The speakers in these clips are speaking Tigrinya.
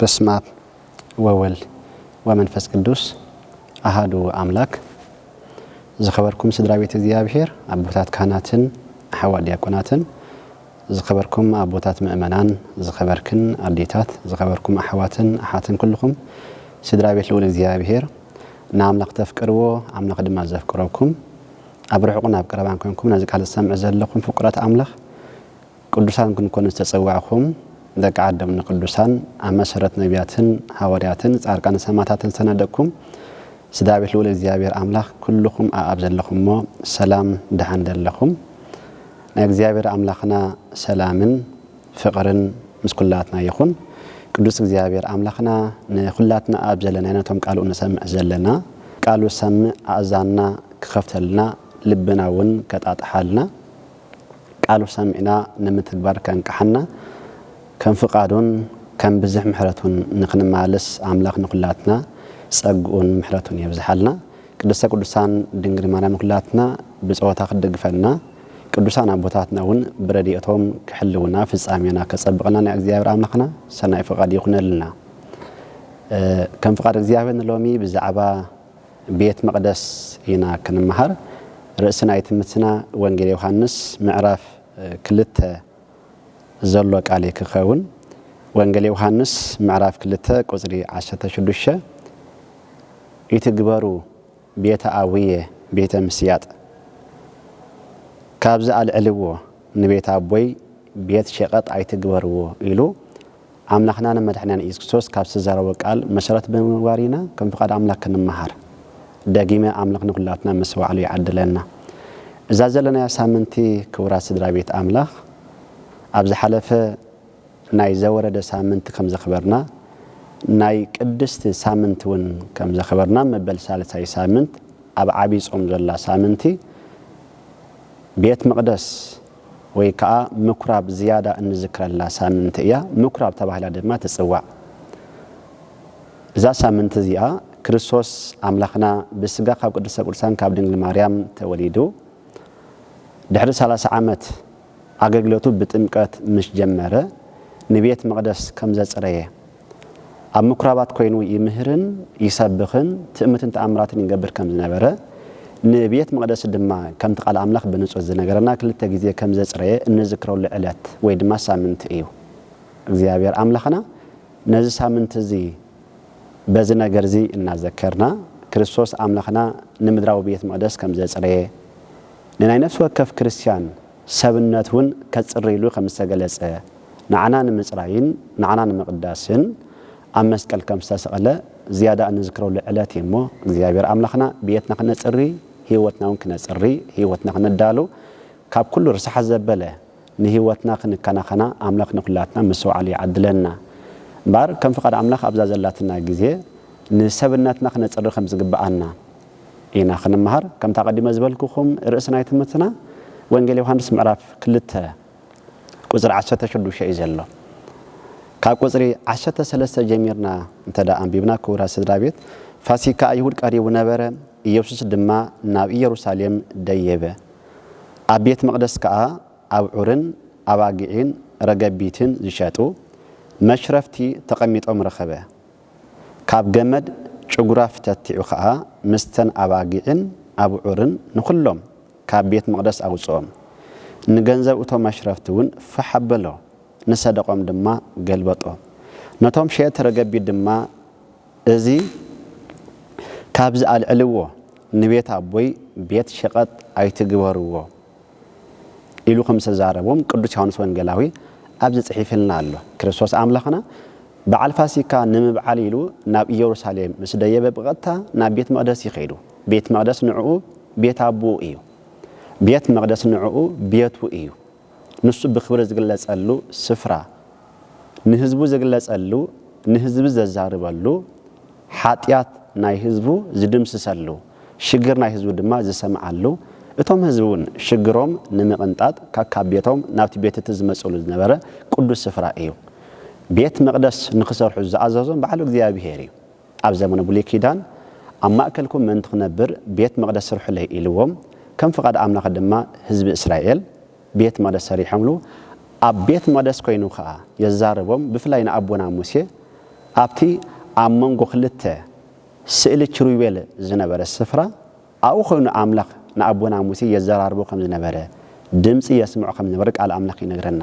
በስማብ ወወል ወመንፈስ ቅዱስ ኣሃዱ ኣምላክ ዝኸበርኩም ስድራ ቤት እግዚኣብሔር ኣቦታት ካህናትን ኣሓዋት ዲያቆናትን ዝኸበርኩም ኣቦታት ምእመናን ዝኸበርክን ኣዴታት ዝኸበርኩም ኣሕዋትን ኣሓትን ኩልኹም ስድራ ቤት ልዑል እግዚኣብሔር ንኣምላኽ ተፍቅርዎ ኣምላኽ ድማ ዘፍቅረኩም ኣብ ርሑቕን ኣብ ቀረባን ኮንኩም ነዚ ቃል ዝሰምዕ ዘለኹም ፍቁራት ኣምላኽ ቅዱሳን ክንኮኑ ዝተጸዋዕኩም ደቂ ዓዶም ንቅዱሳን ኣብ መሰረት ነብያትን ሃወርያትን ጻርቃንን ሰማታትን ዝተነደቅኩም ስድራ ቤት ልኡል እግዚኣብሔር ኣምላኽ ኩሉኹም ኣኣብ ዘለኹሞ ሰላም ድሓን ደለኹም ናይ እግዚኣብሔር ኣምላኽና ሰላምን ፍቅርን ምስ ኩላትና ይኹን ቅዱስ እግዚኣብሔር ኣምላኽና ንኹላትና ኣብ ዘለናዮ ነቶም ቃሉ እንሰምዕ ዘለና ቃሉ ዝሰምዕ ኣእዛንና ክኸፍተልና ልብና እውን ከጣጥሓልና ቃሉ ሰሚዕና ንምትግባር ከንቅሓና ከም ፍቃዱን ከም ብዝሕ ምሕረቱን ንክንመላለስ ኣምላክ ንኩላትና ጸግኡን ምሕረቱን የብዝሓልና ቅድስተ ቅዱሳን ድንግል ማርያም ንኩላትና ብጸወታ ክትድግፈና ቅዱሳን ኣቦታትና ውን ብረዲኤቶም ክሕልውና ፍጻሜና ከጸብቀልና ናይ እግዚኣብሔር ኣምላክና ሰናይ ፍቃድ ይኩነልና ከም ፍቃድ እግዚኣብሔር ንሎሚ ብዛዕባ ቤት መቅደስ ኢና ክንመሃር ርእሲ ናይ ትምትና ወንጌል ዮሓንስ ምዕራፍ ክልተ ዘሎ ቃል ክከውን ወንጌል ዮሓንስ ምዕራፍ ክልተ ቁጽሪ ዓሰርተ ሽዱሽተ ይትግበሩ ቤተ ኣቡየ ቤተ ምስያጥ ካብዚ ኣልዕልዎ ንቤት ኣቦይ ቤት ሸቀጥ ኣይትግበርዎ ኢሉ ኣምላኽናን መድሕንናን ኢየሱስ ክርስቶስ ካብ ዝተዛረቦ ቃል መሰረት ብምግባር ኢና ከም ፍቓድ ኣምላኽ ክንመሃር ደጊመ ኣምላኽ ንኹላትና ምስ ባዕሉ ይዓድለና። እዛ ዘለናያ ሳምንቲ ክቡራት ስድራ ቤት ኣምላኽ ኣብ ዝሓለፈ ናይ ዘወረደ ሳምንቲ ከም ዘኽበርና ናይ ቅድስቲ ሳምንቲ ውን ከም ዘኽበርና መበል ሳልሳይ ሳምንት ኣብ ዓቢይ ጾም ዘላ ሳምንቲ ቤት መቕደስ ወይ ከኣ ምኵራብ ዝያዳ እንዝክረላ ሳምንቲ እያ፣ ምኵራብ ተባሂላ ድማ ትጽዋዕ። እዛ ሳምንቲ እዚኣ ክርስቶስ ኣምላኽና ብስጋ ካብ ቅድስተ ቅዱሳን ካብ ድንግል ማርያም ተወሊዱ ድሕሪ ሰላሳ ዓመት ኣገልግሎቱ ብጥምቀት ምስ ጀመረ ንቤት መቕደስ ከም ዘጽረየ ኣብ ምኵራባት ኰይኑ ይምህርን ይሰብኽን ትእምርትን ተኣምራትን ይገብር ከም ዝነበረ፣ ንቤት መቕደስ ድማ ከምቲ ቃል ኣምላኽ ብንጹር ዝነገረና ክልተ ግዜ ከም ዘጽረየ እንዝክረሉ ዕለት ወይ ድማ ሳምንቲ እዩ። እግዚኣብሔር ኣምላኽና ነዚ ሳምንቲ እዚ በዚ ነገር እዚ እናዘከርና ክርስቶስ ኣምላኽና ንምድራዊ ቤት መቕደስ ከም ዘጽረየ ንናይ ነፍሲ ወከፍ ክርስትያን ሰብነት እውን ከጽሪ ኢሉ ከም ዝተገለጸ፣ ንዓና ንምጽራይን ንዓና ንምቕዳስን ኣብ መስቀል ከም ዝተሰቕለ ዝያዳ እንዝክረሉ ዕለት እዩ እሞ፣ እግዚኣብሔር ኣምላኽና ብየትና ክነጽሪ ሕይወትና እውን ክነጽሪ ሕይወትና ክነዳሉ ካብ ኩሉ ርሳሓት ዘበለ ንሕይወትና ክንከናኸና ኣምላኽ ንኩላትና ምስትውዓል ይዓድለና እምበኣር ከም ፍቓድ ኣምላኽ ኣብዛ ዘላትና ግዜ ንሰብነትና ክነጽሪ ከም ዝግብኣና ኢና ክንመሃር ከምቲ ኣቀዲመ ዝበልኩኩም ርእሲ ናይ ትምህርትና ወንጌል ዮሃንስ ምዕራፍ ክልተ ቁጽሪ ዓሰርተ ሽዱሽተ እዩ ዘሎ ካብ ቁጽሪ ዓሰርተ ሰለስተ ጀሚርና እንተ ኣንቢብና ክቡራት ስድራ ቤት ፋሲካ ኣይሁድ ቀሪቡ ነበረ ኢየሱስ ድማ ናብ ኢየሩሳሌም ደየበ ኣብ ቤት መቅደስ ከኣ ኣብዑርን ኣባጊዒን ረገቢትን ዝሸጡ መሽረፍቲ ተቀሚጦም ረኸበ ካብ ገመድ ጭጉራ ፍተቲዑ ኸኣ ምስተን ኣባጊዕን ኣብዑርን ንዅሎም ካብ ቤት መቕደስ ኣውጽኦም። ንገንዘብ እቶም ኣሽረፍቲውን ፋሕ ኣበሎ፣ ንሰደቖም ድማ ገልበጦ። ነቶም ሸየጥቲ ረገቢት ድማ፣ እዚ ኻብዚ ኣልዕልዎ፣ ንቤት ኣቦይ ቤት ሸቐጥ ኣይትግበርዎ፣ ኢሉ ከም ዝተዛረቦም ቅዱስ ዮሓንስ ወንጌላዊ ኣብዚ ጽሒፍልና ኣሎ። ክርስቶስ ኣምላኽና በዓል ፋሲካ ንምብዓል ኢሉ ናብ ኢየሩሳሌም ምስ ደየበ ብቐጥታ ናብ ቤት መቕደስ እዩ ከይዱ። ቤት መቕደስ ንዕኡ ቤት ኣቦኡ እዩ። ቤት መቕደስ ንዕኡ ቤቱ እዩ። ንሱ ብክብሪ ዝግለጸሉ ስፍራ፣ ንህዝቡ ዝግለጸሉ፣ ንህዝቢ ዘዛርበሉ፣ ሓጢኣት ናይ ህዝቡ ዝድምስሰሉ፣ ሽግር ናይ ህዝቡ ድማ ዝሰምዓሉ፣ እቶም ህዝቢ እውን ሽግሮም ንምቕንጣጥ ከካብ ቤቶም ናብቲ ቤት እቲ ዝመጽእሉ ዝነበረ ቅዱስ ስፍራ እዩ። ቤት መቕደስ ንኽሰርሑ ዝኣዘዞም ባዕሉ እግዚኣብሄር እዩ። ኣብ ዘመነ ብሉይ ኪዳን ኣብ ማእከልኩም ምእንቲ ክነብር ቤት መቕደስ ስርሑለይ ኢልዎም፣ ከም ፍቓድ ኣምላኽ ድማ ህዝቢ እስራኤል ቤት መቕደስ ሰሪሖምሉ፣ ኣብ ቤት መቕደስ ኮይኑ ከኣ የዛርቦም፣ ብፍላይ ንኣቦና ሙሴ ኣብቲ ኣብ መንጎ ክልተ። ስእሊ ኪሩቤል ዝነበረ ስፍራ፣ ኣብኡ ዀይኑ ኣምላኽ ንኣቦና ሙሴ የዘራርቦ ኸም ዝነበረ፣ ድምጺ የስምዖ ኸም ዝነበረ ቃል ኣምላኽ ይነግረና።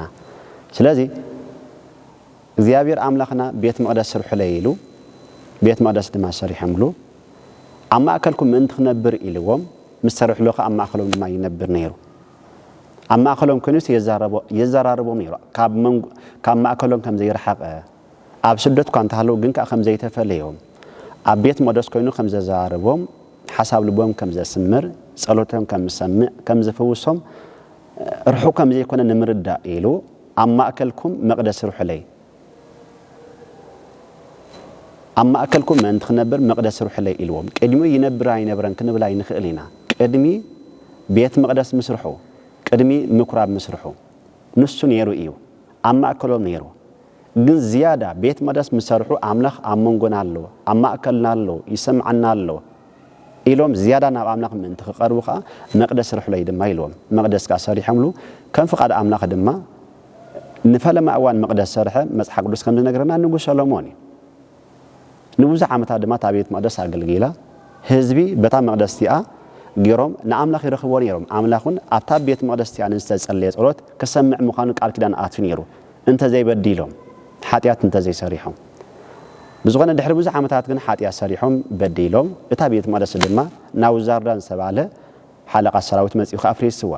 ስለዚ፣ እግዚኣብሄር ኣምላኽና ቤት መቕደስ ስርሑለይ ኢሉ፣ ቤት መቕደስ ድማ ሰሪሖምሉ። ኣብ ማእከልኩም ምእንቲ ኽነብር ኢልዎም ምስ ሰርሑሉ ኸኣ ኣብ ማእከሎም ድማ ይነብር ነይሩ። ኣብ ማእከሎም ኰይኑስ የዘራርቦም ነይሩ፣ ካብ ማእከሎም ከም ዘይረሓቐ ኣብ ስደት'ኳ እንተሃለዉ ግን ከኣ ከም ዘይተፈለዮም፣ ኣብ ቤት መቕደስ ኮይኑ ከም ዘዘራርቦም፣ ሓሳብ ልቦም ከም ዘስምር፣ ጸሎቶም ከም ዝሰምዕ፣ ከም ዝፍውሶም፣ ርሑቕ ከም ዘይኮነ ንምርዳእ ኢሉ፣ ኣብ ማእከልኩም መቕደስ ስርሑለይ፣ ኣብ ማእከልኩም ምእንቲ ክነብር መቕደስ ስርሑለይ ኢልዎም። ቅድሚኡ ይነብር ኣይነብረን ክንብል ኣይንኽእል ኢና። ቅድሚ ቤት መቕደስ ምስርሑ፣ ቅድሚ ምኵራብ ምስርሑ፣ ንሱ ነይሩ እዩ። ኣብ ማእከሎም ነይሩ። ግን ዝያዳ ቤት መቅደስ ምስ ሰርሑ ኣምላኽ ኣብ መንጎና ኣሎ፣ ኣብ ማእከልና ኣሎ፣ ይሰምዓና ኣሎ ኢሎም ዝያዳ ናብ ኣምላኽ ምእንቲ ክቐርቡ ከኣ መቅደስ ስርሕለይ ድማ ኢልዎም። መቅደስ ከኣ ሰሪሖምሉ፣ ከም ፍቓድ ኣምላኽ ድማ ንፈለማ እዋን መቅደስ ሰርሐ፣ መጽሓፍ ቅዱስ ከም ዝነግረና ንጉስ ሰሎሞን እዩ። ንብዙሕ ዓመታት ድማ እታ ቤት መቕደስ ኣገልጊላ። ህዝቢ በታ መቕደስ እቲኣ ገይሮም ንኣምላኽ ይረኽብዎ ነይሮም፣ ኣምላኽ እውን ኣብታ ቤት መቕደስ እቲኣ ንዝተጸለየ ጸሎት ክሰምዕ ምዃኑ ቃል ኪዳን ኣትዩ ነይሩ፣ እንተ ዘይበዲሎም፣ ሓጢኣት እንተ ዘይሰሪሖም። ብዝኾነ ድሕሪ ብዙሕ ዓመታት ግን ሓጢኣት ሰሪሖም በዲሎም፣ እታ ቤት መቕደስ ድማ ናቡዛርዳን ዝተባህለ ሓለቓ ሰራዊት መጺኡ ከኣ ኣፍሪስዋ።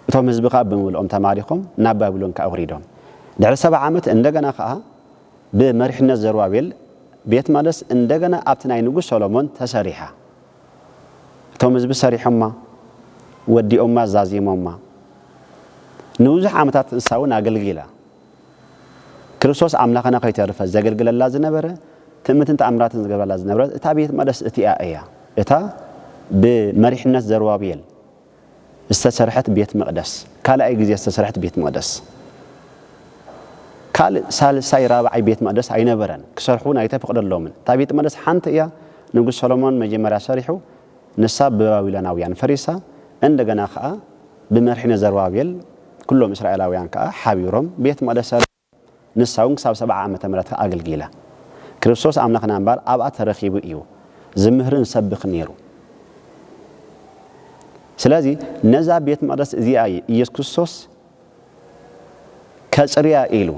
እቶም ህዝቢ ከኣ ብምልኦም ተማሪኾም ናብ ባቢሎን ከኣ ወሪዶም። ድሕሪ ሰብዓ ዓመት እንደገና ከኣ ብመሪሕነት ዘሩባቤል ቤት መቅደስ እንደገና ኣብቲ ናይ ንጉስ ሰሎሞን ተሰሪሓ። እቶም ህዝቢ ሰሪሖማ፣ ወዲኦማ፣ ዛዚሞማ። ንብዙሕ ዓመታት ንሳ እውን ኣገልጊላ። ክርስቶስ ኣምላኽና ከይተርፈ ዘገልግለላ ዝነበረ፣ ትእምትን ተኣምራትን ዝገብረላ ዝነበረት እታ ቤት መቕደስ እቲኣ እያ፣ እታ ብመሪሕነት ዘሩባቤል ዝተሰርሐት ቤት መቕደስ፣ ካልኣይ ግዜ ዝተሰርሐት ቤት መቕደስ። ካልእ ሳልሳይ ራብዓይ ቤት መቕደስ ኣይነበረን፣ ክሰርሑ እውን ኣይተፈቕደሎምን። እታ ቤት መቕደስ ሓንቲ እያ፣ ንጉስ ሰሎሞን መጀመርያ ሰሪሑ፣ ንሳ ብባቢሎናውያን ፈሪሳ፣ እንደገና ኸኣ፣ ብመርሒነ ዘሩባቤል ኵሎም እስራኤላውያን ከኣ ሓቢሮም ቤት መቕደስ ሠርሖም፣ ንሳውን ክሳብ ሰብዓ ዓመተ ምሕረት ከኣ ኣገልጊላ። ክርስቶስ ኣምላኽና እምበኣር ኣብኣ ተረኺቡ እዩ ዚምህርን ዚሰብኽን ነይሩ። ስለዚ ነዛ ቤት መቕደስ እዚኣ እዩ ኢየሱስ ክርስቶስ ከጽርያ ኢሉ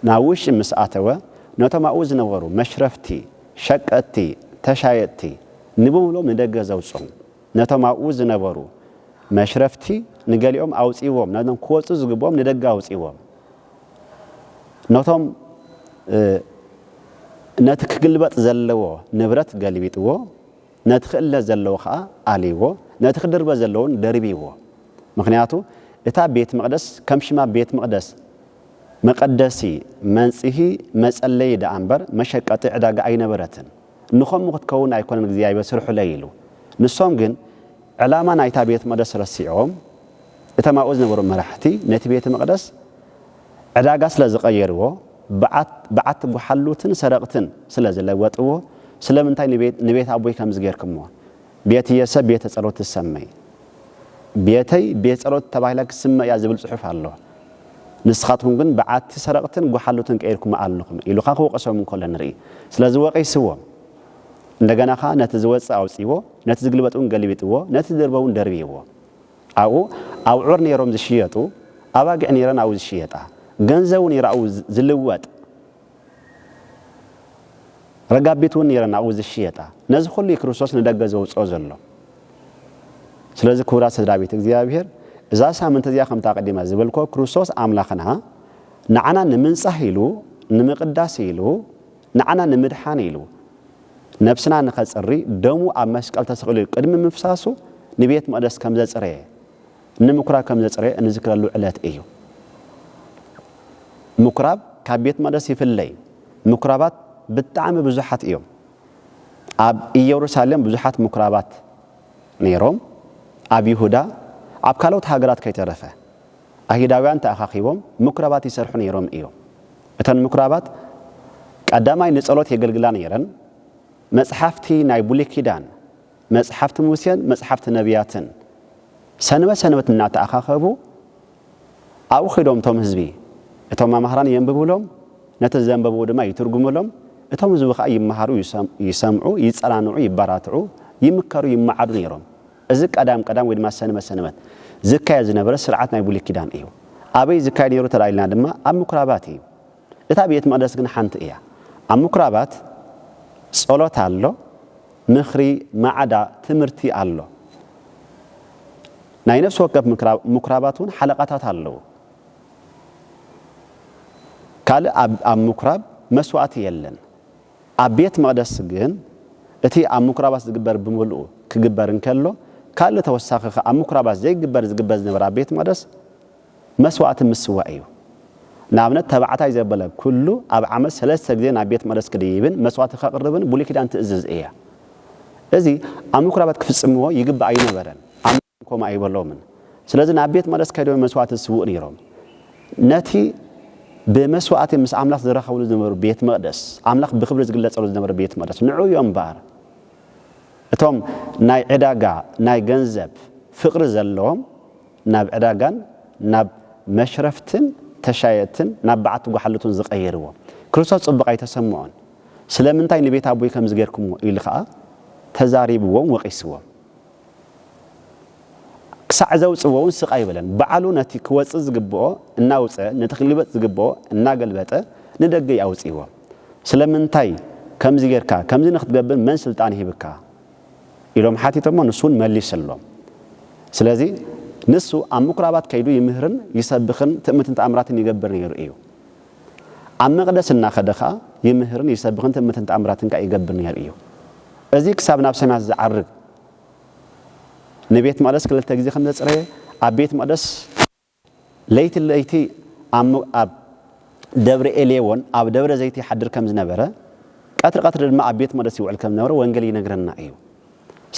ናብ ውሽጢ ምስ ኣተወ ነቶም ኣብኡ ዝነበሩ መሽረፍቲ፣ ሸቀጥቲ፣ ተሻየጥቲ ንብሙሉኦም ንደገ ዘውጽኦም። ነቶም ኣብኡ ዝነበሩ መሽረፍቲ ንገሊኦም ኣውጺዎም ነቶም ክወጹ ዝግብኦም ንደገ ኣውጺዎም ነቶም ነቲ ክግልበጥ ዘለዎ ንብረት ገልቢጥዎ ነቲ ክእለ ዘለዎ ከኣ ኣልይዎ ነቲ ክድርበ ዘለዎ ውን ደርብይዎ ምኽንያቱ እታ ቤት መቕደስ ከም ሽማ ቤት መቕደስ መቐደሲ መንጽሂ መጸለዪ ደኣ እምበር መሸቀጢ ዕዳጋ ኣይነበረትን። ንኸምኡ ክትከውን ኣይኮነን እግዚኣብሔር ስርሑለይ ኢሉ። ንሶም ግን ዕላማ ናይታ ቤት መቅደስ ረሲዖም እቶም ኣብኡ ዝነበሩ መራሕቲ ነቲ ቤት መቅደስ ዕዳጋ ስለ ዝቀየርዎ በዓት በዓቲ ጎሓሉትን ሰረቅትን ስለ ዝለወጥዎ ስለምንታይ ንቤት ንቤት ኣቦይ ከምዚ ጌርክሞ ቤትየሰ ቤተ ጸሎት ትሰመይ፣ ቤተይ ቤት ጸሎት ተባሂላ ክትስመ እያ ዝብል ጽሑፍ ኣሎ። ንስኻትኩም ግን በዓቲ ሰረቕትን ጎሓሉትን ቀይርኩማ ኣለኹም ኢሉ ከኣ ክወቕሶም እንከሎ ንርኢ። ስለዚ ወቒስዎም። እንደገና ከኣ ነቲ ዝወጽእ ኣውጺዎ፣ ነቲ ዝግልበጥ እውን ገልቢጥዎ፣ ነቲ ዝድርበ እውን ደርቢይዎ። ኣብኡ ኣብዑር ነይሮም ዝሽየጡ፣ ኣባጊዕ ነይረን ኣብኡ ዝሽየጣ፣ ገንዘቡ ነይሩ ኣብኡ ዝልወጥ። ረጋቢት እውን ነይረን ኣብኡ ዝሽየጣ። ነዚ ኹሉ እዩ ክርስቶስ ንደገ ዘውጽኦ ዘሎ። ስለዚ ክቡራት ስድራ ቤት እግዚኣብሔር እዛ ሳምንቲ እዚኣ ከምቲ ኣቐዲመ ዝበልክዎ ክርስቶስ ኣምላኽና ንዓና ንምንጻህ ኢሉ ንምቕዳስ ኢሉ ንዓና ንምድሓን ኢሉ ነብስና ንኸጽሪ ደሙ ኣብ መስቀል ተሰቒሉ ቅድሚ ምፍሳሱ ንቤት መቕደስ ከም ዘጽረየ ንምኵራብ ከም ዘጽረዮ እንዝክረሉ ዕለት እዩ። ምኵራብ ካብ ቤት መቕደስ ይፍለይ። ምኵራባት ብጣዕሚ ብዙሓት እዮም። ኣብ ኢየሩሳሌም ብዙሓት ምኵራባት ነይሮም፣ ኣብ ይሁዳ፣ ኣብ ካልኦት ሃገራት ከይተረፈ። ኣይሁዳውያን ተኣኻኺቦም ምኵራባት ይሰርሑ ነይሮም እዮም። እተን ምኵራባት ቀዳማይ ንጸሎት የገልግላ ነይረን፣ መጽሓፍቲ ናይ ብሉይ ኪዳን፣ መጽሓፍቲ ሙሴን መጽሓፍቲ ነብያትን ሰንበት ሰንበት እናተኣኻኸቡ ኣብኡ ኸይዶም እቶም ህዝቢ፣ እቶም መማህራን የንብቡሎም፣ ነቲ ዘንበብዎ ድማ ይትርጉሙሎም፣ እቶም ህዝቢ ኸኣ ይመሃሩ፣ ይሰምዑ፣ ይጸናንዑ፣ ይበራትዑ፣ ይምከሩ፣ ይመዓዱ ነይሮም። እዚ ቀዳም ቀዳም ወይ ድማ ሰንበት ሰንበት ዝካየድ ዝነበረ ስርዓት ናይ ብሉይ ኪዳን እዩ። ኣበይ ዝካየድ ነይሩ እንተ ኢልና ድማ ኣብ ምኵራባት እዩ። እታ ቤት መቕደስ ግን ሓንቲ እያ። ኣብ ምኵራባት ጸሎት ኣሎ፣ ምኽሪ፣ ማዕዳ፣ ትምህርቲ ኣሎ። ናይ ነፍሲ ወከፍ ምኵራባት እውን ሓለቓታት ኣለዉ። ካልእ ኣብ ኣብ ምኵራብ መስዋእቲ የለን። ኣብ ቤት መቕደስ ግን እቲ ኣብ ምኵራባት ዝግበር ብምልኡ ክግበር እንከሎ፣ ካልእ ተወሳኺ ከኣ ኣብ ምኵራባት ዘይግበር ዝግበር ዝነበረ ኣብ ቤት መቕደስ፣ መስዋእቲ ምስዋእ እዩ። ንኣብነት ተባዕታይ ዘበለ ኩሉ ኣብ ዓመት ሰለስተ ግዜ ናብ ቤት መቕደስ ክድይብን መስዋእቲ ከቕርብን ብሉይ ኪዳን ትእዝዝ እያ። እዚ ኣብ ምኩራባት ክፍጽምዎ ይግባእ ኣይነበረን፣ ኣምላኽውን ከምኡ ኣይበሎምን። ስለዚ ናብ ቤት መቕደስ ከይዶም መስዋእቲ ዝስውኡ ነይሮም። ነቲ ብመስዋእቲ ምስ ኣምላኽ ዝራኸብሉ ዝነበሩ ቤት መቕደስ፣ ኣምላኽ ብኽብሪ ዝግለጸሉ ዝነበረ ቤት መቕደስ፣ ንዕኡ እዮም እምበኣር እቶም ናይ ዕዳጋ ናይ ገንዘብ ፍቕሪ ዘለዎም ናብ ዕዳጋን ናብ መሽረፍትን ተሻየጥትን ናብ በዓቲ ጓሓሉቱን ዝቐየርዎ። ክርስቶስ ጽቡቕ ኣይተሰምዖን። ስለምንታይ ንቤት ኣቦይ ከምዚ ጌርኩምዎ? ኢሉ ኸኣ ተዛሪብዎም ወቒስዎም። ክሳዕ ዘውጽዎውን ስቕ ኣይበለን። ባዕሉ ነቲ ክወጽእ ዝግብኦ እናውጸ ነቲ ክግልበጥ ዝግብኦ እናገልበጠ ንደገ እዩ ኣውጺእዎ። ስለምንታይ ከምዚ ጌርካ? ከምዚ ንኽትገብር መን ስልጣን ሂብካ? ኢሎም ሓቲቶሞ ንሱ ውን መሊስሎም ስለዚ ንሱ ኣብ ምኩራባት ከይዱ ይምህርን ይሰብኽን ትእምትን ተኣምራትን ይገብር ነይሩ እዩ ኣብ መቅደስ እናኸደ ከኣ ይምህርን ይሰብኽን ትእምትን ተኣምራትን ከኣ ይገብር ነይሩ እዩ እዚ ክሳብ ናብ ሰማያት ዝዓርግ ንቤት መቅደስ ክልተ ግዜ ከም ዘጽረየ ኣብ ቤት መቅደስ ለይቲ ለይቲ ኣብ ደብረ ኤሌዎን ኣብ ደብረ ዘይቲ ይሓድር ከም ዝነበረ፣ ቀትሪ ቀትሪ ድማ ኣብ ቤት መቕደስ ይውዕል ከም ዝነበረ ወንጌል ይነግረና እዩ።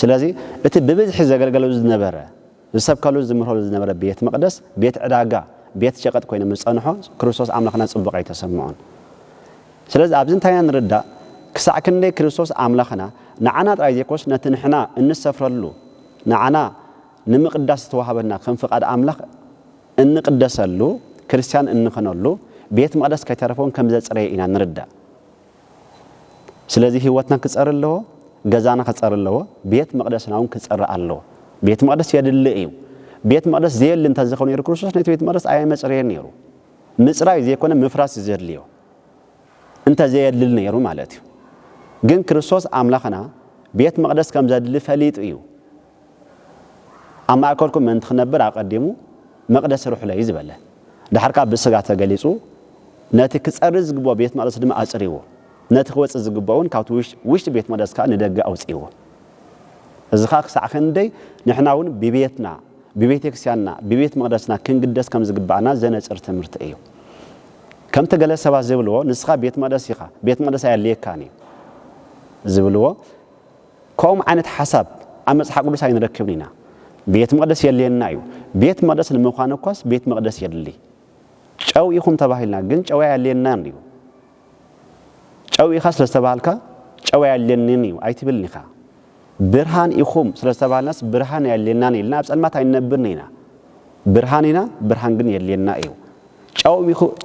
ስለዚ እቲ ብብዝሒ ዘገልገለሉ ዝነበረ፣ ዝሰብከሉን ዝምህረሉን ዝነበረ ቤት መቕደስ፣ ቤት ዕዳጋ፣ ቤት ሸቐጥ ኮይኑ ምስ ጸንሖ ክርስቶስ ኣምላኽነት ጽቡቕ ኣይተሰምዖን። ስለዚ ኣብዚ እንታይ ኢና ንርዳእ? ክሳዕ ክንደይ ክርስቶስ ኣምላኽና ንዓና ጥራይ ዘይኮነስ ነቲ ንሕና እንሰፍረሉ ንዓና ንምቕዳስ ዝተዋህበና ከም ፍቓድ ኣምላኽ እንቕደሰሉ፣ ክርስትያን እንኸነሉ፣ ቤት መቕደስ ከይተረፈውን ከም ዘጽረየ ኢና ንርዳእ። ስለዚ ህይወትና ክጸሪ ኣለዎ፣ ገዛና ክጸሪ ኣለዎ፣ ቤት መቕደስናውን ክጸሪ ኣለዎ። ቤት መቕደስ የድሊ እዩ። ቤት መቕደስ ዘየሊ እንተዘኸው ነይሩ ክርስቶስ ነቲ ቤት መቕደስ ኣየመጽረየን ነይሩ። ምጽራይ ዘይኮነ ምፍራስ እዩ ዘድልዮ። እንተ ዘየድሊ ነይሩ ማለት እዩ። ግን ክርስቶስ ኣምላኽና ቤት መቕደስ ከም ዘድሊ ፈሊጡ እዩ ኣብ ማእከልኩም ምእንቲ ክነብር ኣቐዲሙ መቕደስ ስርሑለይ ዝበለ፣ ደሓር ከኣ ብስጋ ተገሊጹ ነቲ ክጸሪ ዝግብኦ ቤት መቕደስ ድማ ኣጽሪዎ፣ ነቲ ክወጽእ ዝግብኦውን ካብቲ ውሽጢ ቤት መቕደስ ከኣ ንደገ ኣውጺእዎ። እዚ ከኣ ክሳዕ ክንደይ ንሕናውን ብቤትና፣ ብቤተክርስቲያንና፣ ብቤት መቕደስና ክንግደስ ከም ዝግብኣና ዘነጽር ትምህርቲ እዩ። ከምቲ ገለ ሰባት ዝብልዎ ንስኻ ቤት መቕደስ ኢኻ፣ ቤት መቕደስ ኣየድልየካን እዩ ዝብልዎ፣ ከምኦም ዓይነት ሓሳብ ኣብ መጽሓ ቅዱስ ኣይንረክብን ኢና። ቤት መቕደስ የድልየና እዩ። ቤት መቕደስ ንምዃን እኳስ ቤት መቕደስ የድሊ። ጨው ኢኹም ተባሂልና ግን ጨው ኣየድልየናን እዩ። ጨው ኢኻ ስለ ዝተባሃልካ ጨው ኣየድልየንን እዩ ኣይትብልን ኢኻ። ብርሃን ኢኹም ስለ ዝተባሃልናስ ብርሃን ኣየድልየናን ኢልና ኣብ ጸልማት ኣይንነብርን ኢና። ብርሃን ኢና፣ ብርሃን ግን የድልየና እዩ።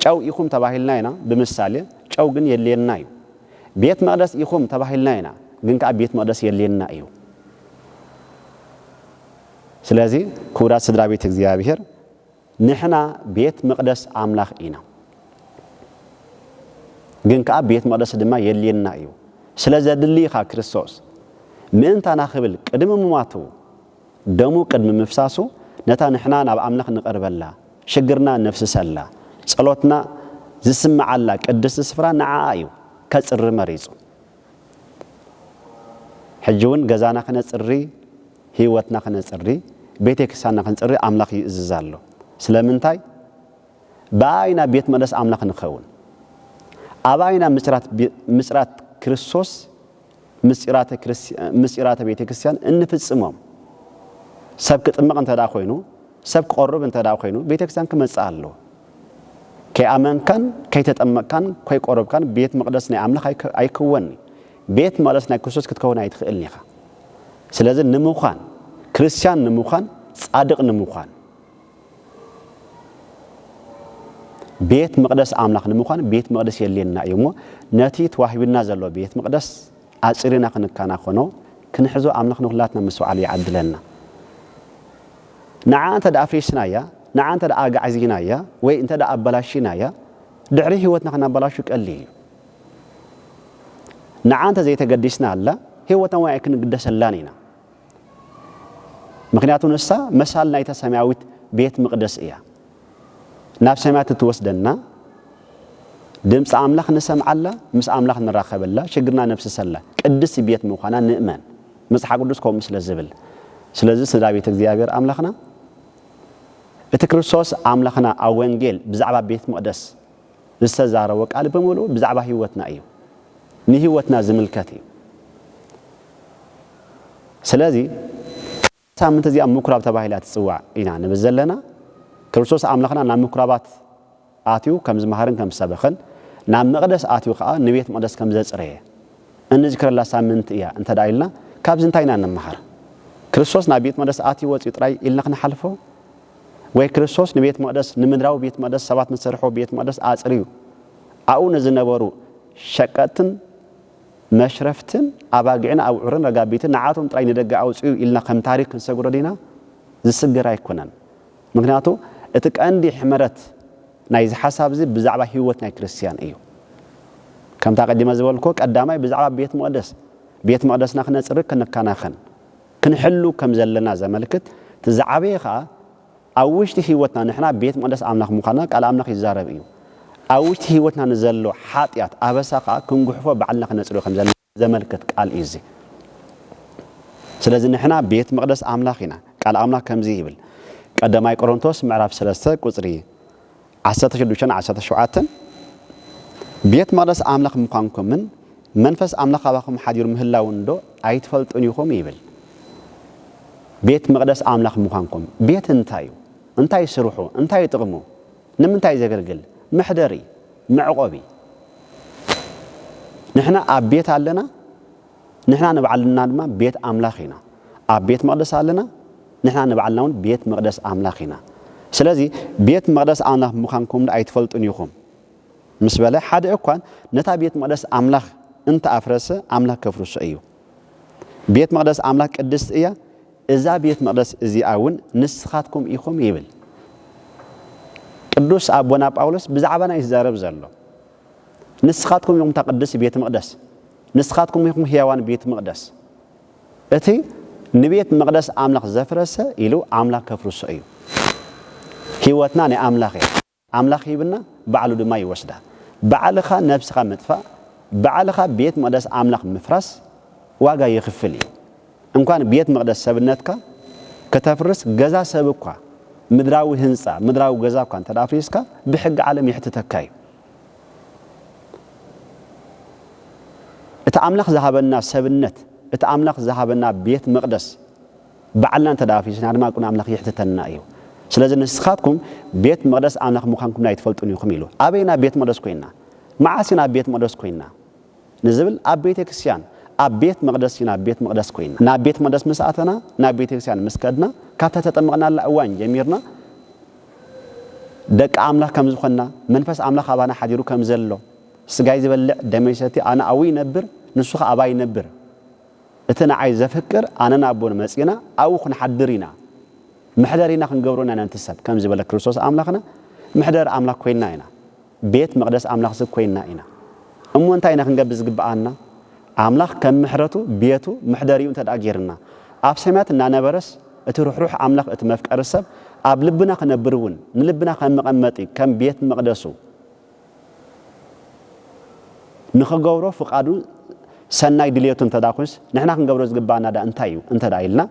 ጨው ኢኹም ተባሂልና ኢና ብምሳሌ፣ ጨው ግን የድልየና እዩ። ቤት መቕደስ ኢኹም ተባሂልና ኢና፣ ግን ከኣ ቤት መቕደስ የድልየና እዩ። ስለዚ ክቡራት ስድራ ቤት እግዚኣብሔር ንሕና ቤት መቕደስ ኣምላኽ ኢና፣ ግን ከኣ ቤት መቕደስ ድማ የድልየና እዩ። ስለ ዘድሊ ኢኻ ክርስቶስ ምእንታና ክብል ቅድሚ ምሟቱ ደሙ ቅድሚ ምፍሳሱ ነታ ንሕና ናብ ኣምላኽ ንቐርበላ፣ ሽግርና ነፍስሰላ፣ ጸሎትና ዝስምዓላ ቅድስቲ ስፍራ ንዓኣ እዩ ከጽሪ መሪጹ። ሕጂ ውን ገዛና ክነጽሪ፣ ህይወትና ክነጽሪ፣ ቤቴ ክርስቲያንና ክንጽሪ ኣምላኽ ይእዝዝ ኣሎ። ስለምንታይ? ብኣኣ ኢና ቤት መቕደስ ኣምላኽ ንኸውን። ኣብኣ ኢና ምጽራት ምጽራት ክርስቶስ ምስጢራተ ቤተ ክርስቲያን እንፍጽሞም ሰብ ክጥመቕ እንተ ደኣ ኮይኑ ሰብ ክቐርብ እንተ ደኣ ኮይኑ ቤተ ክርስቲያን ክመጽእ ኣለዎ። ከይኣመንካን ከይተጠመቕካን ኮይቆረብካን ቤት መቕደስ ናይ ኣምላኽ ኣይክወን እዩ። ቤት መቕደስ ናይ ክርስቶስ ክትከውን ኣይትኽእልን ኢኻ። ስለዚ ንምዃን ክርስቲያን ንምዃን ጻድቕ ንምዃን ቤት መቕደስ ኣምላኽ ንምዃን ቤት መቕደስ የድልየና እዩ እሞ ነቲ ተዋሂቡና ዘሎ ቤት መቕደስ ኣጽሪና ክንከናኸኖ ክንሕዞ ኣምላኽ ንኹላትና ምስትውዓሉ ይዓድለና። ንዓ እንተ ኣፍሪስናያ ንዓ እንተ ኣጋዕዚናያ ወይ እንተ ኣበላሺናያ ድሕሪ ህይወትና ክናበላሹ ቀሊል እዩ። ንዓ እንተ ዘይተገዲስናላ ህይወትና እውን ኣይክንግደሰላን ኢና። ምኽንያቱ ንሳ መሳል ናይታ ሰማያዊት ቤት ምቕደስ እያ። ናብ ሰማያት እትወስደና፣ ድምጺ ኣምላኽ ንሰምዓላ፣ ምስ ኣምላኽ ንራኸበላ፣ ሽግርና ነፍስሰላ ቅድስቲ ቤት ምዃና ንእመን፣ መጽሓፍ ቅዱስ ከምኡ ስለ ዝብል። ስለዚ ስድራ ቤት እግዚኣብሔር ኣምላኽና እቲ ክርስቶስ ኣምላኽና ኣብ ወንጌል ብዛዕባ ቤት መቕደስ ዝተዛረቦ ቃል ብምሉኡ ብዛዕባ ህይወትና እዩ። ንህይወትና ዝምልከት እዩ። ስለዚ እዛ ሳምንቲ እዚኣ ምኵራብ ተባሂላ ትጽዋዕ ኢና ንብል ዘለና። ክርስቶስ ኣምላኽና ናብ ምኵራባት ኣትዩ ከም ዝመሃርን ከም ዝሰበኸን፣ ናብ መቕደስ ኣትዩ ከኣ ንቤት መቕደስ ከም ዘጽረየ እንዝክረላ ሳምንቲ እያ እንተ ደኣ ኢልና ካብዚ እንታይ ኢና እንመሃር? ክርስቶስ ናብ ቤት መቕደስ ኣትዩ ወጺኡ ጥራይ ኢልና ክንሓልፎ? ወይ ክርስቶስ ንቤት መቕደስ ንምድራዊ ቤት መቕደስ ሰባት ንዝሰርሕዎ ቤት መቕደስ ኣጽርዩ ኣብኡ ንዝነበሩ ሸቀጥትን መሽረፍትን ኣባጊዕን ኣብዑርን ረጋቢትን ንዓቶም ጥራይ ንደገ ኣውጽኡ ኢልና ከም ታሪኽ ክንሰግሮ ዲና ዝስገር ኣይኮነን ምኽንያቱ እቲ ቀንዲ ሕመረት ናይዚ ሓሳብ እዚ ብዛዕባ ህይወት ናይ ክርስትያን እዩ ከምታ ቀዲመ ዝበልኩዎ ቀዳማይ ብዛዕባ ቤት መቕደስ ቤት መቕደስና ክነጽሪ ክንከናኸን ክንሕሉ ከም ዘለና ዘመልክት፣ እቲ ዝዓበየ ከኣ ኣብ ውሽጢ ህይወትና ንሕና ቤት መቕደስ ኣምላኽ ምዃንና ቃል ኣምላኽ ይዛረብ እዩ። ኣብ ውሽጢ ህይወትና ንዘሎ ሓጢኣት፣ ኣበሳ ከኣ ክንጉሕፎ ባዕልና ክነጽርዮ ከም ዘለና ዘመልክት ቃል እዩ እዚ። ስለዚ ንሕና ቤት መቕደስ ኣምላኽ ኢና። ቃል ኣምላኽ ከምዚ ይብል ቀዳማይ ቆሮንቶስ ምዕራፍ ሰለስተ ቁጽሪ ዓሰርተ ሽዱሽተ ን ዓሰርተ ሸውዓተን፣ ቤት መቕደስ ኣምላኽ ምዃንኩምን መንፈስ ኣምላኽ ኣባኹም ሓዲሩ ምህላዉንዶ ኣይትፈልጡን ኢኹም? ይብል። ቤት መቕደስ ኣምላኽ ምዃንኩም። ቤት እንታይ እዩ? እንታይ ስርሑ? እንታይ ጥቕሙ? ንምንታይ ዘገልግል? መሕደሪ፣ መዕቆቢ። ንሕና ኣብ ቤት ኣለና? ንሕና ንባዕልና ድማ ቤት ኣምላኽ ኢና። ኣብ ቤት መቕደስ ኣለና፣ ንሕና ንባዕልና እውን ቤት መቕደስ ኣምላኽ ኢና። ስለዚ ቤት መቕደስ ኣምላኽ ምዃንኩምዶ ኣይትፈልጡን ኢኹም? ምስ በለ፣ ሓደ እኳን ነታ ቤት መቕደስ ኣምላኽ እንተ ኣፍረሰ፣ ኣምላኽ ከፍርሶ እዩ። ቤት መቕደስ ኣምላኽ ቅድስቲ እያ፣ እዛ ቤት መቕደስ እዚኣ እውን ንስኻትኩም ኢኹም ይብል ቅዱስ ኣቦና ጳውሎስ ብዛዕባና እዩ ዝዛረብ ዘሎ። ንስኻትኩም ኢኹም እታ ቅድስቲ ቤት መቕደስ። ንስኻትኩም ኢኹም ህያዋን ቤት መቕደስ እቲ ንቤት መቕደስ ኣምላኽ ዘፍረሰ ኢሉ ኣምላኽ ከፍርሶ እዩ። ህይወትና ናይ ኣምላኽ እያ። ኣምላኽ ሂብና ባዕሉ ድማ ይወስዳ። ባዕልኻ ነብስኻ ምጥፋእ፣ ባዕልኻ ቤት መቕደስ ኣምላኽ ምፍራስ ዋጋ የኽፍል እዩ። እንኳን ቤት መቕደስ ሰብነትካ ከተፍርስ ገዛ ሰብ እኳ ምድራዊ ህንጻ፣ ምድራዊ ገዛ እኳ እንተ ኣፍሪስካ ብሕጊ ዓለም የሕትተካ እዩ። እቲ ኣምላኽ ዝሃበና ሰብነት፣ እቲ ኣምላኽ ዝሃበና ቤት መቕደስ ባዕልና እንተ ደኣ ኣፍሪስና ድማ ኣብ ቅድሚ ኣምላኽ የሕትተና እዩ። ስለዚ ንስኻትኩም ቤት መቕደስ ኣምላኽ ምዃንኩም ኣይትፈልጡን ኢኹም ኢሉ። ኣበይ ኢና ቤት መቕደስ ኮይንና? መዓስ ኢና ቤት መቕደስ ኮይንና? ንዝብል ኣብ ቤተ ክርስቲያን ኣብ ቤት መቕደስ ኢና ቤት መቕደስ ኮይንና። ናብ ቤት መቕደስ ምስ ኣተና ናብ ቤተ ክርስቲያን ምስ ከድና ካብታ ተጠመቕናላ እዋን ጀሚርና ደቂ ኣምላኽ ከም ዝዀንና፣ መንፈስ ኣምላኽ ኣባና ሓዲሩ ከም ዘሎ፣ ስጋይ ዚበልዕ ደመይ ዚሰቲ ኣነ ኣብኡ ይነብር፣ ንሱ ኸኣ ኣባይ ይነብር፣ እቲ ንዓይ ዘፍቅር ኣነ ናብኡ ንመጺእና ኣብኡ ኽንሓድር ኢና፣ መሕደሪና ኽንገብሮ ኢና ነንቲ ሰብ ከም ዝበለ ክርስቶስ ኣምላኽና መሕደሪ ኣምላኽ ኰይንና ኢና። ቤት መቕደስ ኣምላኽሲ ኰይንና ኢና እሞ፣ እንታይ ኢና ክንገብር ዚግብኣና? ኣምላኽ ከም ምሕረቱ፣ ቤቱ፣ መሕደሪኡ እንተደኣ ገይሩና፣ ኣብ ሰማያት እናነበረስ እቲ ርሕሩሕ ኣምላኽ፣ እቲ መፍቀሪ ሰብ ኣብ ልብና ኺነብር እውን፣ ንልብና ከም መቐመጢ፣ ከም ቤት መቕደሱ ንኺገብሮ ፍቓዱን ሰናይ ድልየቱን እንተደኣ ኰይኑስ፣ ንሕና ክንገብሮ ዚግብኣና ደኣ እንታይ እዩ? እንተደኣ ኢልና፣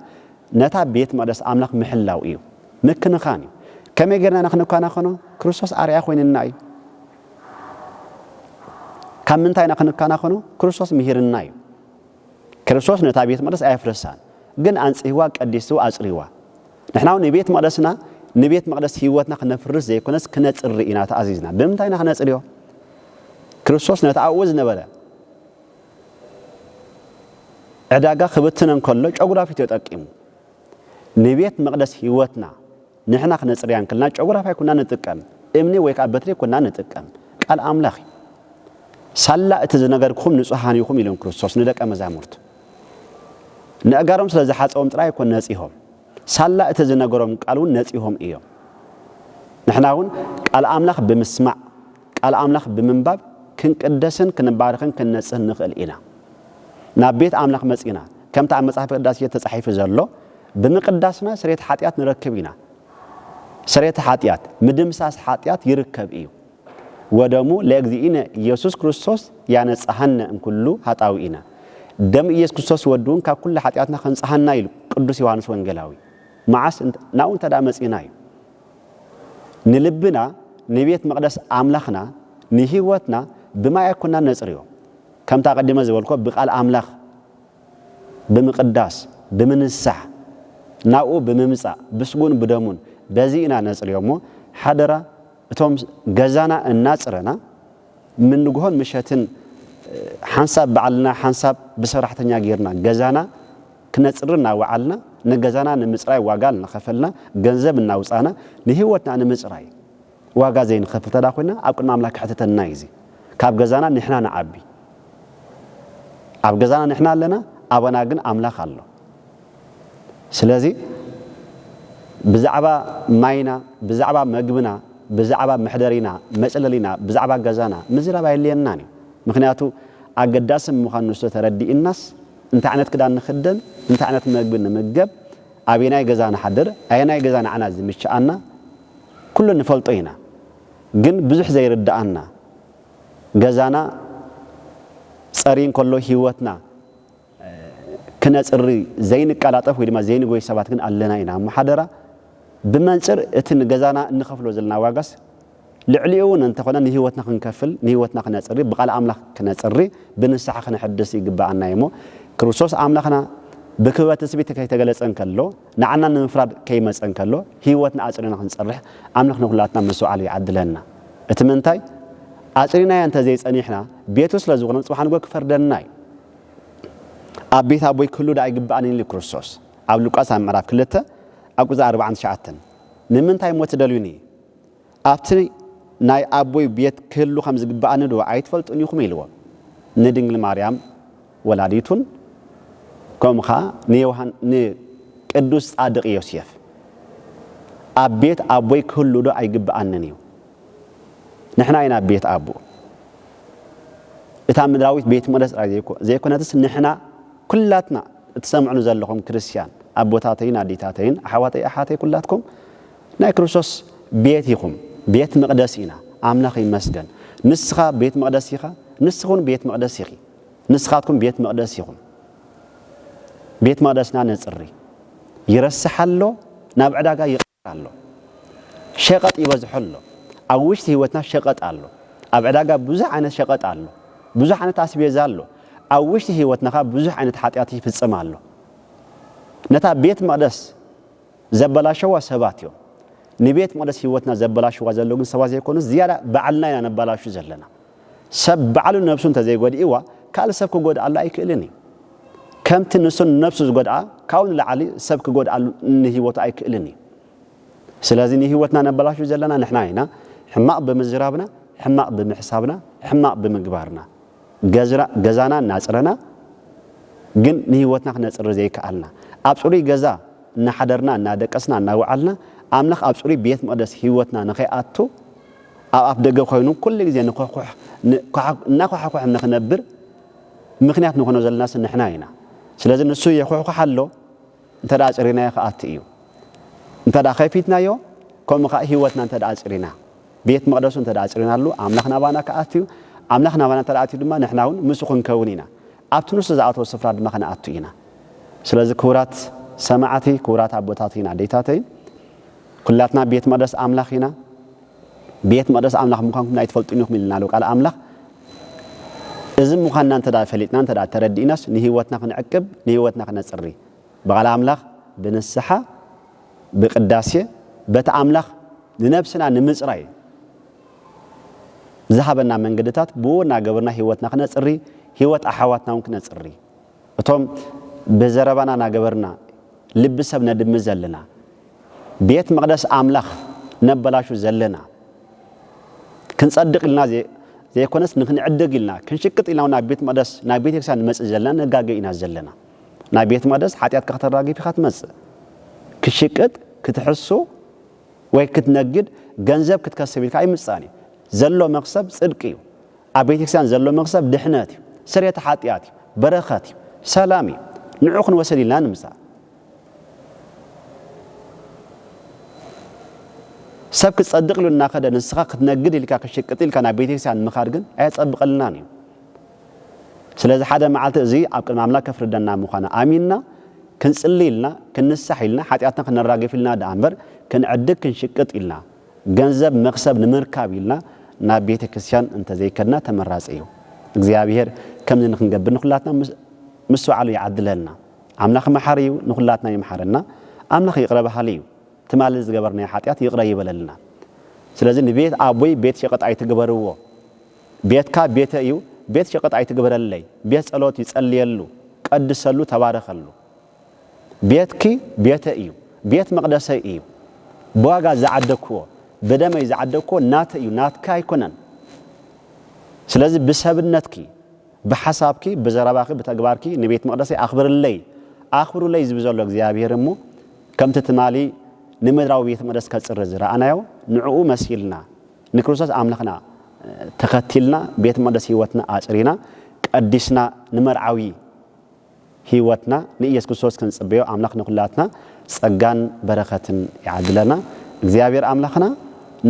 ነታ ቤት መቕደስ ኣምላኽ ምሕላው እዩ። ምክንኻን እዩ። ከመይ ጌርና ኢና ክንከናኸኖ? ክርስቶስ ኣርኣያ ኮይንና እዩ። ካብ ምንታይ ኢና ክንከናኸኖ? ክርስቶስ ምሂርና እዩ። ክርስቶስ ነታ ቤት መቕደስ ኣየፍረሳን፣ ግን ኣንጽህዋ፣ ቀዲስዋ፣ ኣጽርይዋ። ንሕና እውን ንቤት መቕደስና ንቤት መቕደስ ህይወትና ክነፍርስ ዘይኮነስ ክነጽሪ ኢና ተኣዚዝና። ብምንታይ ኢና ክነጽርዮ? ክርስቶስ ነቲ ኣብኡ ዝነበረ ዕዳጋ ክብትነ እንከሎ ጨጉራፊት ተጠቂሙ ንቤት መቕደስ ህይወትና ንሕና ክነጽርያ እንክልና ጨጉራፍ ኣይኮንና ንጥቀም፣ እምኒ ወይ ከኣ በትሪ ኣይኮንና ንጥቀም፣ ቃል ኣምላኽ እዩ። ሳላ እቲ ዝነገርኩኹም ንጹሃን ኢኹም ኢሎም ክርስቶስ ንደቀ መዛሙርቱ ነእጋሮም ስለ ዝሓጸቦም ጥራይ ኣይኮን ነጺሆም፣ ሳላ እቲ ዝነገሮም ቃል እውን ነጺሆም እዮም። ንሕና እውን ቃል ኣምላኽ ብምስማዕ ቃል ኣምላኽ ብምንባብ ክንቅደስን ክንባረኽን ክንነጽህን ንኽእል ኢና። ናብ ቤት ኣምላኽ መጺእና ከምቲ ኣብ መጽሓፍ ቅዳሴ ተጻሒፉ ዘሎ ብምቅዳስና ስርየት ሓጢኣት ንረክብ ኢና። ስርየተ ሓጢኣት፣ ምድምሳስ ሓጢኣት ይርከብ እዩ። ወደሙ ለእግዚእነ ኢየሱስ ክርስቶስ ያነጽሃነ እምኩሉ ኃጣውኢነ ደም ኢየሱስ ክርስቶስ ወድውን ካብ ኩሉ ሓጢኣትና ከንጽሃና ኢሉ ቅዱስ ዮሐንስ ወንጌላዊ። መዓስ ናብኡ እንተደኣ መጺእና እዩ። ንልብና ንቤት መቕደስ ኣምላኽና ንህይወትና ብማይ ኣይኮናን ነጽርዮ። ከምቲ ኣቐዲመ ዝበልኩዎ ብቃል ኣምላኽ ብምቕዳስ፣ ብምንሳሕ፣ ናብኡ ብምምጻእ፣ ብስጉኡን ብደሙን በዚ ኢና ነጽርዮ እሞ ሓደራ እቶም ገዛና እናጽረና ምንግሆን ምሸትን ሓንሳብ ባዕልና ሓንሳብ ብሰራሕተኛ ጌርና ገዛና ክነጽሪ እናወዓልና፣ ንገዛና ንምጽራይ ዋጋ እናኸፈልና፣ ገንዘብ እናውጻእና፣ ንህይወትና ንምጽራይ ዋጋ ዘይንኸፍል እንተ ኾይና፣ ኣብ ቅድሚ ኣምላኽ ከሕትተና እዩ እዚ። ካብ ገዛና ንሕና ንዓቢ። ኣብ ገዛና ንሕና ኣለና፣ ኣባና ግን ኣምላኽ ኣሎ። ስለዚ ብዛዕባ ማይና፣ ብዛዕባ መግብና፣ ብዛዕባ መሕደሪና፣ መጽለሊና፣ ብዛዕባ ገዛና ምዝራብ ኣየድልየናን እዩ። ምኽንያቱ ኣገዳሲ ምዃኑ ስለ ተረዲእናስ እንታይ ዓይነት ክዳን ንኽደን፣ እንታይ ዓይነት መግቢ ንምገብ፣ ኣበየናይ ገዛ ንሓድር፣ ኣየናይ ገዛ ንዓና ዝምችኣና፣ ኩሉ ንፈልጦ ኢና። ግን ብዙሕ ዘይርድኣና፣ ገዛና ጸርይ እንከሎ ህይወትና ክነጽሪ ዘይንቀላጠፍ ወይ ድማ ዘይንጎይ ሰባት ግን ኣለና ኢና እሞ ሓደራ ብመንጽር እቲ ንገዛና እንኸፍሎ ዘለና ዋጋስ ልዕሊኡውን እንተኾነ ንህይወትና ክንከፍል፣ ንህይወትና ክነጽሪ፣ ብቃል ኣምላኽ ክነጽሪ፣ ብንስሓ ክነሐድስ ይግበኣና እዩሞ ክርስቶስ ኣምላኽና ብክበበ ትጽቢት ከይተገለጸ እንከሎ፣ ንዓና ንምፍራድ ከይመጸ እንከሎ፣ ህይወትና ኣጽሪና ክንጸርሕ ኣምላኽ ንኩላትና ምስትውዓል ይዓድለና። እቲ ምንታይ ኣጽሪናዮ እንተዘይጸኒሕና ቤቱ ስለዝኾነ ጽባሕ ንግሆ ክፈርደና እዩ። ኣብ ቤት ኣቦይ ክህሉ ደኣ ኣይግበኣንን ኢሉ ክርስቶስ ኣብ ሉቃስ ኣብ ምዕራፍ ክልተ ኣብ ቁጽሪ ኣርብዓን ትሽዓተን። ንምንታይ እሞ ትደልዩኒ ኣብቲ ናይ ኣቦይ ቤት ክህሉ ከም ዝግብኣኒዶ ኣይትፈልጡን ኢኹም? ኢልዎም። ንድንግል ማርያም ወላዲቱን ከምኡ ኸኣ ንቅዱስ ጻድቕ ዮሴፍ ኣብ ቤት ኣቦይ ክህሉዶ ኣይግብኣንን እዩ? ንሕና ኢና ቤት ኣቦ። እታ ምድራዊት ቤት መቕደስ ጥራይ ዘይኮነትስ ንሕና ኩላትና እትሰምዑኒ ዘለኹም ክርስትያን ኣቦታተይን ኣዴታተይን ኣሕዋተይ ኣሓተይ ኩላትኩም ናይ ክርስቶስ ቤት ኢኹም፣ ቤት መቕደስ ኢና። ኣምላኽ ይመስገን። ንስኻ ቤት መቕደስ ኢኻ፣ ንስኺውን ቤት መቕደስ ኢኺ። ንስኻትኩም ቤት መቕደስ ኢኹም። ቤት መቕደስና ነጽሪ። ይረስሕ ኣሎ፣ ናብ ዕዳጋ ይቕየር ኣሎ። ሸቐጥ ይበዝሖ ኣሎ። ኣብ ውሽጢ ህይወትና ሸቐጥ ኣሎ። ኣብ ዕዳጋ ብዙሕ ዓይነት ሸቐጥ ኣሎ። ብዙሕ ዓይነት ኣስቤዛ ኣሎ። ኣብ ውሽጢ ህይወትና ከኣ ብዙሕ ዓይነት ሓጢኣት ይፍጸም ኣሎ። ነታ ቤት መቕደስ ዘበላሸዋ ሰባት እዮም ንቤት መቅደስ ሂወትና ዘበላሽዋ ዘለዉ ግን ሰባት ዘይኮኑስ ዝያዳ ባዕልና ኢና ነባላሹ ዘለና ሰብ ባዕሉ ነብሱ እንተዘይጎዲእዋ ካልእ ሰብ ክጎድኣሉ ኣይክእልን እዩ ከምቲ ንሱ ንነብሱ ዝጎድኣ ካብኡ ንላዕሊ ሰብ ክጎድኣሉ ንሂወቱ ኣይክእልን እዩ ስለዚ ንሂወትና ነበላሹ ዘለና ንሕና ኢና ሕማቅ ብምዝራብና ሕማቅ ብምሕሳብና ሕማቅ ብምግባርና ገዛና እናጽረና ግን ንህይወትና ክነጽሪ ዘይከኣልና፣ ኣብ ጽሩይ ገዛ እናሓደርና እናደቀስና እናወዓልና ኣምላኽ ኣብ ጽሩይ ቤት መቕደስ ህይወትና ንኸይኣቱ ኣብ ኣፍ ደገ ኮይኑ ኩሉ ግዜ እናኳሓኮሐ ንኽነብር ምኽንያት ንኾኖ ዘለናስ ንሕና ኢና። ስለዚ ንሱ የኹሕኩሕ ኣሎ እንተደኣ ኣጽሪናዮ ክኣቱ እዩ። እንተደኣ ከፊትናዮ ከምኡ ከኣ ህይወትና እንተደኣ ኣጽሪና። ቤት መቕደሱ እንተ ኣጽሪናሉ፣ ኣምላኽ ናባና ኪኣቱ እዩ፣ ኣምላኽ ናባና እንተ ኣትዩ ድማ፣ ንሕናውን ምስኡ ክንከውን ኢና፣ ኣብቲ ንሱ ዝኣተዎ ስፍራ ድማ ክንኣቱ ኢና። ስለዚ ክቡራት ሰማዕቲ፣ ክቡራት ኣቦታተይን ኣዴታተይን፣ ኩላትና ቤት መቕደስ ኣምላኽ ኢና። ቤት መቕደስ ኣምላኽ ምዃንኩም ኣይትፈልጡን ኢኹም ኢሉና ኣሎ ቃል ኣምላኽ። እዚ ምዃንና እንተ ፈሊጥናን እንተ ተረዲእናስ፣ ንህይወትና ክንዕቅብ፣ ንህይወትና ክነጽሪ፣ ብቓል ኣምላኽ፣ ብንስሓ፣ ብቅዳሴ በቲ ኣምላኽ ንነብስና ንምጽራይ ዝሃበና መንገድታት ብኡ እናገበርና ሕይወትና ክነጽሪ ሕይወት ኣኃዋትና እውን ክነጽሪ እቶም ብዘረባና ናገበርና ልቢ ሰብ ነድሚ ዘለና ቤት መቅደስ ኣምላኽ ነበላሹ ዘለና ክንጸድቅ ኢልና ዘይኮነስ ንክንዕድግ ኢልና ክንሽቅጥ ኢልና ናብ ቤት መቅደስ ናብ ቤተክርስቲያን ንመጽእ ዘለና ንጋገ ኢና ዘለና። ናይ ቤት መቅደስ ሓጢኣትካ ክተራግፍ ኢኻ ትመጽእ ክትሽቅጥ ክትሕሱ ወይ ክትነግድ ገንዘብ ክትከስብ ኢልካ ኣይምጻእን እዩ ዘሎ መክሰብ ጽድቂ እዩ ኣብ ቤተክርስቲያን ዘሎ መክሰብ ድሕነት እዩ ስርየተ ሓጢኣት እዩ በረከት እዩ ሰላም እዩ ንዑ ክንወሰድ ኢልና ንምጻእ ሰብ ክጸድቅ ኢሉ እናኸደ ንስኻ ክትነግድ ኢልካ ክትሽቅጥ ኢልካ ናብ ቤተክርስቲያን ምኻድ ግን ኣየጸብቀልናን እዩ ስለዚ ሓደ መዓልቲ እዚ ኣብ ቅድሚ ኣምላክ ከፍርደና ምዃኑ ኣሚንና ክንጽሊ ኢልና ክንንሳሕ ኢልና ሓጢኣትና ክነራግፍ ኢልና ደኣ እምበር ክንዕድግ ክንሽቅጥ ኢልና ገንዘብ መክሰብ ንምርካብ ኢልና ናብ ቤተ ክርስትያን እንተ ዘይከድና ተመራጺ እዩ። እግዚኣብሔር ከምዚ ንክንገብር ንኩላትና ምስትውዓሉ ይዓድለልና። ኣምላክ መሓሪ እዩ ንኩላትና ይምሓረና። ኣምላክ ይቅረ በሃሊ እዩ። ትማሊ ዝገበርናዮ ሓጢኣት ይቅረ ይበለልና። ስለዚ ንቤት ኣቦይ ቤት ሸቀጥ ኣይትግበርዎ። ቤትካ ቤተይ እዩ ቤት ሸቀጥ ኣይትግበረለይ ቤት ጸሎት እዩ ጸልየሉ ቀድሰሉ ተባረኸሉ ቤትኪ ቤተይ እዩ ቤት መቅደሰይ እዩ ብዋጋ ዝዓደኩዎ ብደመይ ዝዓደኩዎ ናተይ እዩ ናትኪ ኣይኮነን ስለዚ ብሰብነትኪ ብሓሳብኪ ብዘረባኺ ብተግባርኪ ንቤት መቅደሰይ ኣኽብርለይ ኣኽብሩለይ ዝብል ዘሎ እግዚኣብሄር እሞ ከምቲ ትማሊ ንምድራዊ ቤት መቅደስ ከጽሪ ዝረኣናዮ ንዕኡ መሲልና ንክርስቶስ ኣምላኽና ተኸቲልና ቤት መቕደስ ሕይወትና ኣጽሪና ቀዲስና ንመርዓዊ ሕይወትና ንኢየሱስ ክርስቶስ ክንጽበዮ ኣምላኽ ንኩላትና ጸጋን በረኸትን ይዓድለና። እግዚኣብሔር ኣምላኽና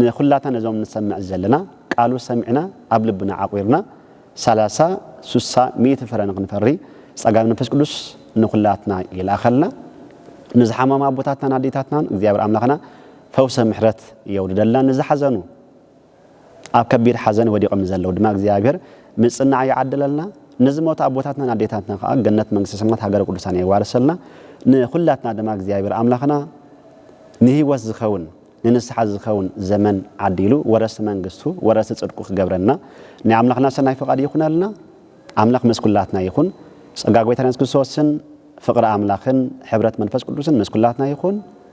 ንኩላትና ነዞም ንሰምዕ ዘለና ቃሉ ሰሚዕና ኣብ ልብና ዓቝርና ሰላሳ ስሳ ሚእቲ ፍረ ንክንፈሪ ጸጋ መንፈስ ቅዱስ ንኩላትና ይልኣኸልና። ንዝሓመሙ ኣቦታትናን ኣዴታትናን እግዚኣብሔር ኣምላኽና ፈውሰ ምሕረት የውርደልና ንዝሓዘኑ ኣብ ከቢድ ሓዘን ወዲቆም ንዘለው ድማ እግዚኣብሔር ምፅናዕ ይዓድለልና ንዝሞቱ ኣቦታትናን ኣዴታትና ከዓ ገነት መንግስተ ሰማያት ሃገረ ቅዱሳን የዋርሰልና ንኩላትና ድማ እግዚኣብሔር ኣምላክና ንህይወት ዝከውን ንንስሓ ዝከውን ዘመን ዓዲሉ ወረስቲ መንግስቱ ወረስቲ ፅድቁ ክገብረና ናይ ኣምላክና ሰናይ ፍቃድ ይኩነልና ኣምላክ ምስ ኩላትና ይኩን ፀጋ ጎይታና የሱስ ክርስቶስን ፍቅሪ ኣምላክን ሕብረት መንፈስ ቅዱስን ምስ ኩላትና ይኩን